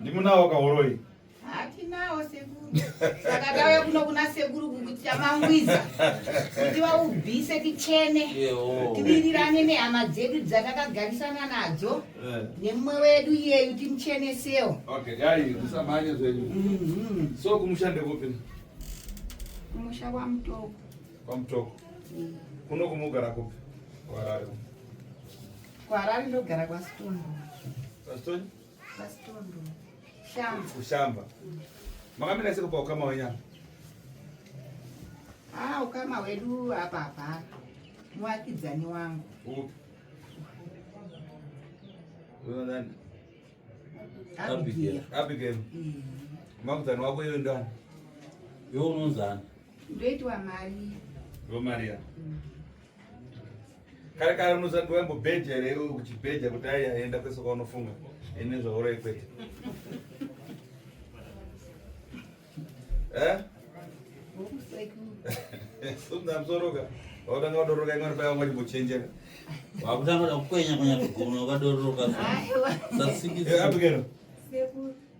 ndimunawo kahoroi hatinawo sekuru saka tauya kuno kuna sekuru kuti tamangwiza kuti vaubvise tichene tivirirane nehama dzedu dzatakagarisana nadzo eh. nemumwe wedu iyeyu timuchenesewo mhm. so kumushande kupi kumusha kwamutoko kwamutoko mm. kuno kumugara kupi kwarari Kuharare ndogara kwaStondo. Kwaston? KwaStondo. Shamba. Kushamba. Makamira sei kupa ukama wenyu apa? Ah, ukama hwedu hapa hapana. Muvakidzani wangu. Upi? Uyo ndani? Abigail. Abigail. Mm. Makudzani wako iwe ndani? Iwe unonzani? Ndoitwa Maria. Ndo Maria. Mm. kare kare unozati waimbobheja here iwe uchibheja kuti ai aenda kwese kwaunofunga ine zvauroi kwete eh? sumza msoroka wautanga wadoroka imwe paya wangati mbochenjera wakutanga kukwenya kwenya kugona wakadoroka sasikizabikero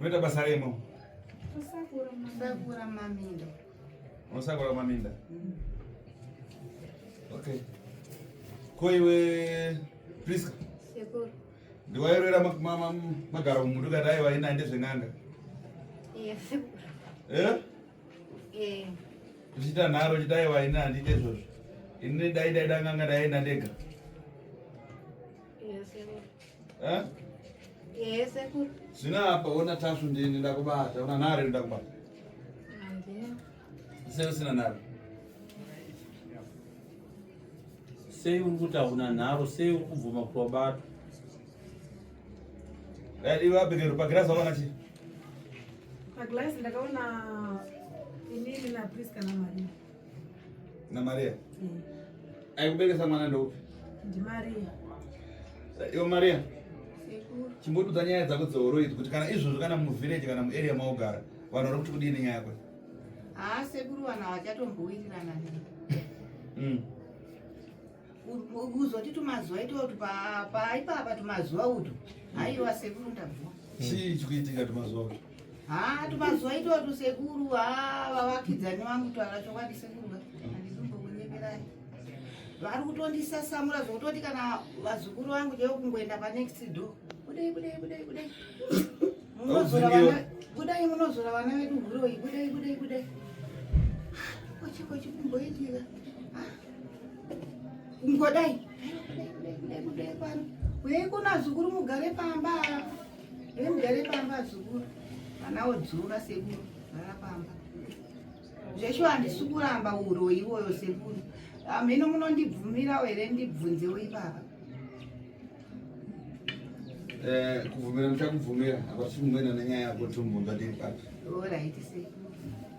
Unoita basa remo? Kusakura maminda. Unosakura maminda? Mm. Okay. Ko iwe Priska? Sekuru. Ndiwairwira magara mumundu kati aiva ina ende zven'anga? Yes, sekuru. Eh? Eh. Uchita nharo uchita aiva ina handite izvozvo. Ini dai dai danganga daienda ndega. Eh? Yes, sekuru. Zvina hapa ona tasvu ndini ndakubata, ona nhare ndakubata. Andina. Sei usina nhare? Sei uri kuti hauna nharo, sei uri kubvuma kuti wabatwa? Eh, iwe abhekero pagirazi wakaona chii? Pagirazi ndakaona inini na Priska na Maria. Na Maria. Mm. Aikuberesa mwana ndoupi? Ndi Maria. Yo Maria. Sekuru. Chimbodudza nyaya dzako dzehoro idzi kuti kana izvozvo kana muvillage kana muarea maogara vanhu vari kuti kudii nenyaya yako? Haa sekuru vanhu havachatombouirirana nini. Mm. kuzoti tumazuva ito kuti paipapa tumazuva utu haiwa sekuru ndabvua chii chikuitika tumazuva utu haa tumazuva ito tu sekuru haa vavakidzani vangu twara chokwadi sekuru handizombokunyeperai vari kutondisasamura zvokutoti kana vazukuru vangu chaivo kungoenda panext door kudei kudei kudei kudei kudai munozora vana vedu huroyi kudei kudei kudei kochikochikumboitika ah. ngodai uyei kuno azukuru mugare pamba e mugare pamba azukuru vana wodzura sekuru gara pamba zveshuwa handisi kuramba uroyi iwoyo sekuru hamhino ah, munondibvumirawo here ndibvunzewo ipapa Eh, kuvumira ndichakubvumira apa tichimumwena nenyaya yako timumbadii pati orit se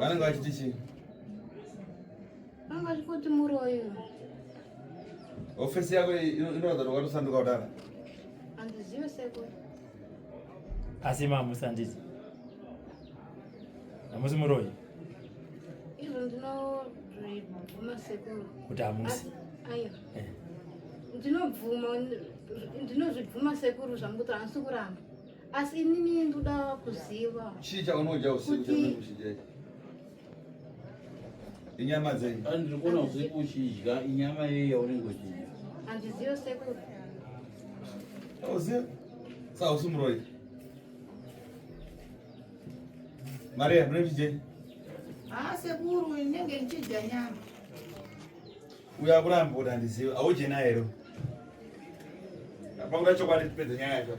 vanenge vachiti chii vanga vachikuti muroyi hofesi yako inoratidza kuti wakatosanduka kudara handizive seko asi mamusi handiti hamusi muroyi izvo ndinobvuma sekuru kuti hamusi aya eh. ndinobvuma ndinozvibvuma sekuru zvamukuti hansi kuramba asi inini ndoda kuziva chii chaunodya usiku chaunodya inyama dzenyu ah, ndiri kuona usiku uchidya inyama yei yaunenge uchidya handizive sekuru auzive saa usi muroi mari yamune ndichidyenyi haa ah, sekuru inenge ndichidya nyama uyo akuramba kuti handizive audye naye ro apakuda chokwadi tipedze nyaya yacho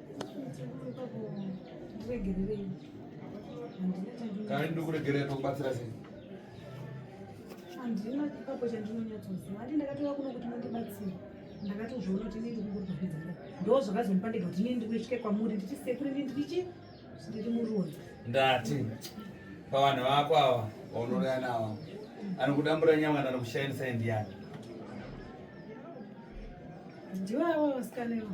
Kana ndikuregerera tokubatsira sei? Handina ipapo chandinonyatsoziva. Handi ndakatouya kuno kuti mundibatsire. Ndakatozviona kuti ndiri kungoripedza. Ndoo zvakazondipa ndega kuti ndini ndikuitye kwamuri nditi sekuru ndini ndichi ndiri muruoni. Ndati pavanhu vako ava vaunoraya navo anokudambura nyama kana kushainisa ndiani? Ndiwo avo vasikana ivo.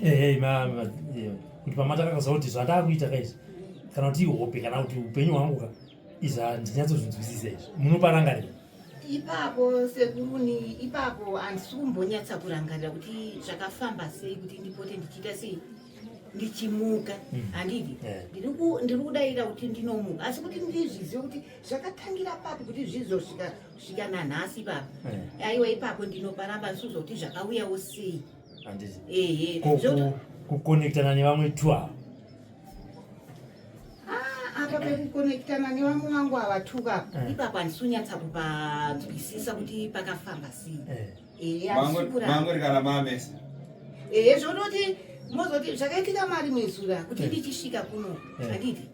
Hey, mama, yeah. kuti pamataka kaziva kuti zvandakuita kaizvi kana kuti ihope kana kuti upenyu hwangu ka izvi handinyatsozinzwisisa izvi munoparangarira ipapo sekuruni ipapo handisi kumbonyatsa kurangarira kuti zvakafamba sei kuti ndipote ndichiita sei ndichimuka hmm. handidi eh. ndiri kudaira kuti ndinomuka asi kuti ndizvizive kuti zvakatangira papi kuti zvizosvika svika nanhasi baba eh. aiwa ipapo ndinoparamba suzoti zvakauya usei ehe kukonektana nevamwe twa ah, apa pekukonektana nevamwe vangu ava tuka eh. ipapo handisunyatsa kupanzwisisa kuti pakafamba sei eh. ehe asikuranga rikana mamesa ehe zvonoti mozoti zvakaitika mari mwezura kuti eh. ndichisvika kuno eh. anditi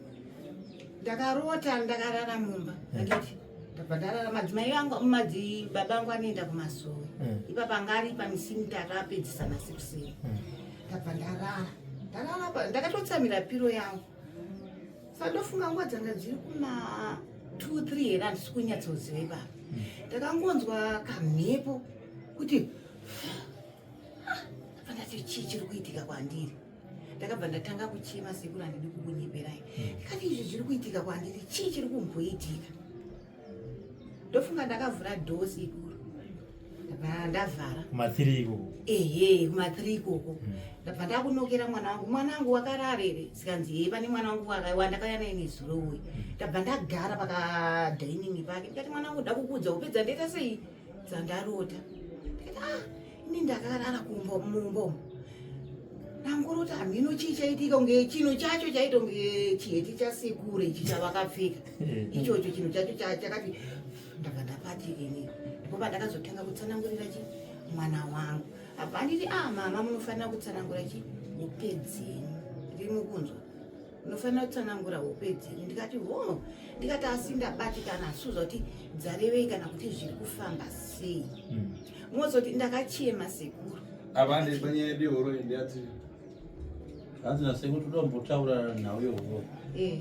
ndakarota ndakarara mumba eh. anditi ndabhadharara madzimai vangu madzi baba vangu vanoenda kumasowe mm. ipapa anga ari pamisi mitatu apedzisa masixen mm. ndabva ndarara ndarara ndakatotsamira piro yangu sandofunga nguva dzanga dziri kuma two three here handisi kunyatsoziva ipapa mm. ndakangonzwa kamhepo kuti ah, ndabva ndati chii chiri kuitika kwandiri ndakabva ndatanga kuchema sekuru handidi kukunyeperai hmm. kani izvi zviri kuitika kwandiri chii chiri kumboitika ndofunga ndakavhura dhoo sekuru ndavhara kumathiri ikoko ehe kumathiri ikoko hmm. ndabva ndakunokera mwana wangu mwana wangu wakararere sikanzi hee pane mwana wangu wakaiwa ndakauya naye nezuro uye hmm. ndabva ndagara pakadainingi pake ndikati mwana wangu ndakukuudza kupedza ndoita sei dzandarota ndikati ah ini ndakarara kumbo mumbo ndangoroti hamhino chii chaitika kunge chino chacho chaito nge chiheti chasekuru ichi chavakapfeka eh. ichocho chino chacho chakati ndaka ndapati ini ndipo pandakazotanga kutsanangurira chi mwana wangu apa anditi ah mama munofanira kutsanangura chi mupedzeni ndiri mukunzwa unofanira kutsanangura hope dzenyu ndikati ho ndikati asi ndabatikana asuzva kuti dzarevei kana kuti zviri kufamba sei hmm. mozoti ndakachema sekuru avandipanyaya yedu yehoro ndiyati hanzi nasekuru toda kumbotaura nhau yehoro eh.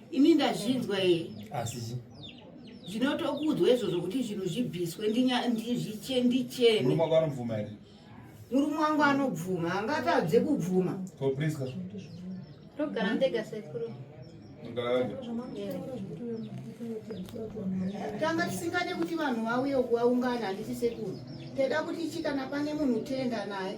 ini ndazvinzwa here asi zvinotokudzwa izvozvo kuti zvinhu zvibviswe ndichene murume wangu anobvuma angatadze kubvuma togara ndega sekuru tanga tisingade kuti vanhu vauye kuvaungana handisi sekuru teda kuti chikana pane munhu tenda naye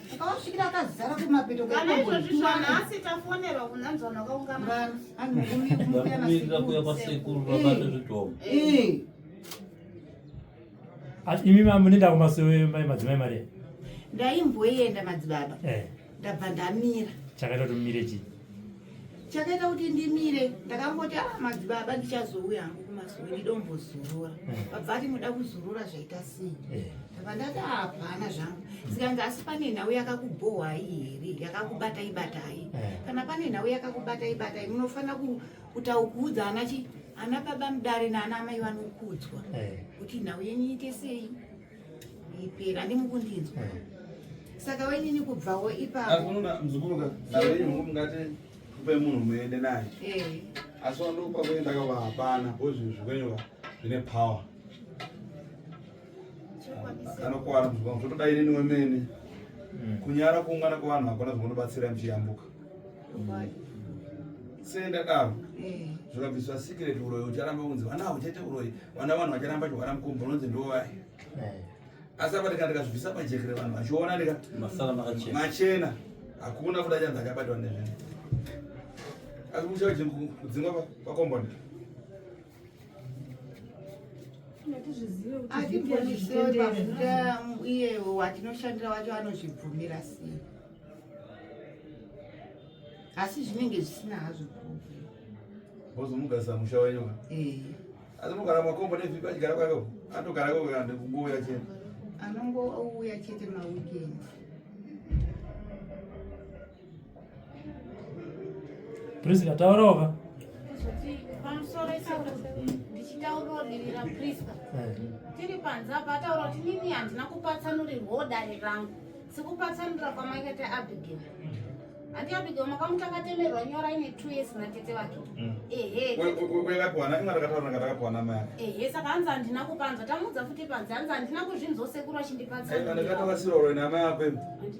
akawasvikira akazara kumapeto kana izvozvi zvana asi tafonerwa kunanzvana wakaunganaanomirira kuya kwasekuru vabata zvidhomo asi imi munenda kumasowe mai madzimai mari ndaimboenda madzibaba eh. ndabva ndamira chakaita kuti mumire chii chakaita kuti ndimire ndakangoti a ah, madzibaba ndichazouya hangu kumazuva ndidombozorora vabva ati muda kuzorora zvaita sei ndava ndati ah, hapana zvangu zikanzi asi pane nhau yakakubhohwai here yakakubatai batai kana pane nhau yakakubatai batai munofanira kutaukudza anachi ana baba mudare naana amai vanokudzwa kuti nhau yenyu iite sei ipera ndimukundinzwa saka wainini kubvawo ipaoaunamzukurukaaiungati kupe munhu muende naye eh. asi wandokupa kuenda kava hapana bo zvinhu zvikwenyoka zvine power anokuwara muzukuru zvotoda inini wemene hmm. kunyara kuungana kwevanhu hakuna zvinobatsira mchiyambuka sendadaro eh. zvikabviswa secret uroyi ucharamba kunzi vana hauchaite uroyi vana vanhu vacharamba chihwara mukombo unonzi ndovai eh. asi apa ndika ndikazvibvisa pajekere vanhu vachiona ndika machena hakuna kuda chanzi achabatwa nezvinhu asi kuchauchikudzingwa pakomboni atibvunzisewe pafuta iye watinoshandira wacho anozvibvumira sei asi zvinenge zvisina hazvo ozomugarisa musha wenyu eh. asi mugara makombo nevhipi achigara kwake atogara kweande kungouya chete anongouya chete maweekend Prisca taurawo ka tiri panze apa ataura kuti nini handina kupatsanurirwawo dare rangu sikupatsanurira kwamaikata abigail handi abigail makamutakatemerwa nyora ine two years natete vake mm. ehe saka hanzi handina kupanzwa tamuudza futi panze hanzi handina kuzvinzwa sekuru achindipatsanurira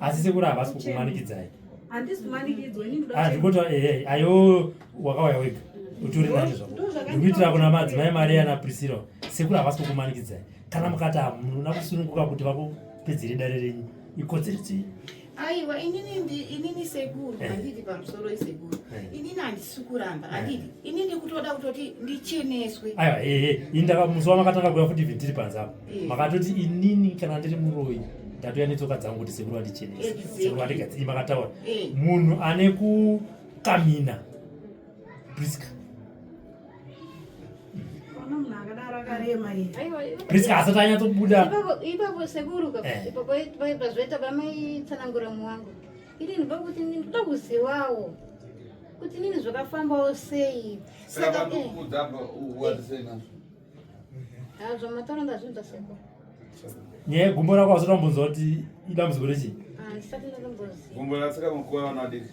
asi sekuru havasi kukumanikidzai handikoti ah, eh, eh, ayo wakauya wega utori nacho zvako ndikuitira kuna madzimai mari yana prisira sekuru havasi kukumanikidzai kana mukati hamuna kusununguka kuti vakupedzere dare renyu ikodzero dzenyu aiwa inini ndi inini sekuru eh. handidi pamusoro isekuru eh. inini handisi kuramba eh. handidi ini ndikutoda kutoti ndicheneswe aiwa ehe ini ndaka musi wamakatanga kuya futi vhindiri panze apo makatoti inini kana ndiri muroyi ndatoya netsoka dzangu kuti sekuru vandichenese sekuru vandigadzii makataura munhu ane kukamina priska Priska asati anyatsobuda ipapo sekuru eh. ipapo pazoita pamaitsanangura muwangu inini pakuti ndinoda kuzivawo kuti nini zvakafambawo sei saka eh. ah, zvamataura ndazvinza sekuru nyaya yegumbo rako asati ambonzwa kuti idambudziko rechii ah, gumbo ratsika mukuwa vanadiki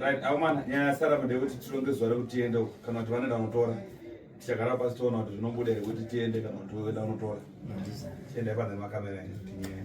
Right, amana nyaya sara made kuti tironge zuva rekuti tiende uko kana kuti vanoenda kunotora tichagara pasi toona kuti zvinobuda here kuti tiende kana kuti voenda kunotora tiende pane makamera ene kuti nyaya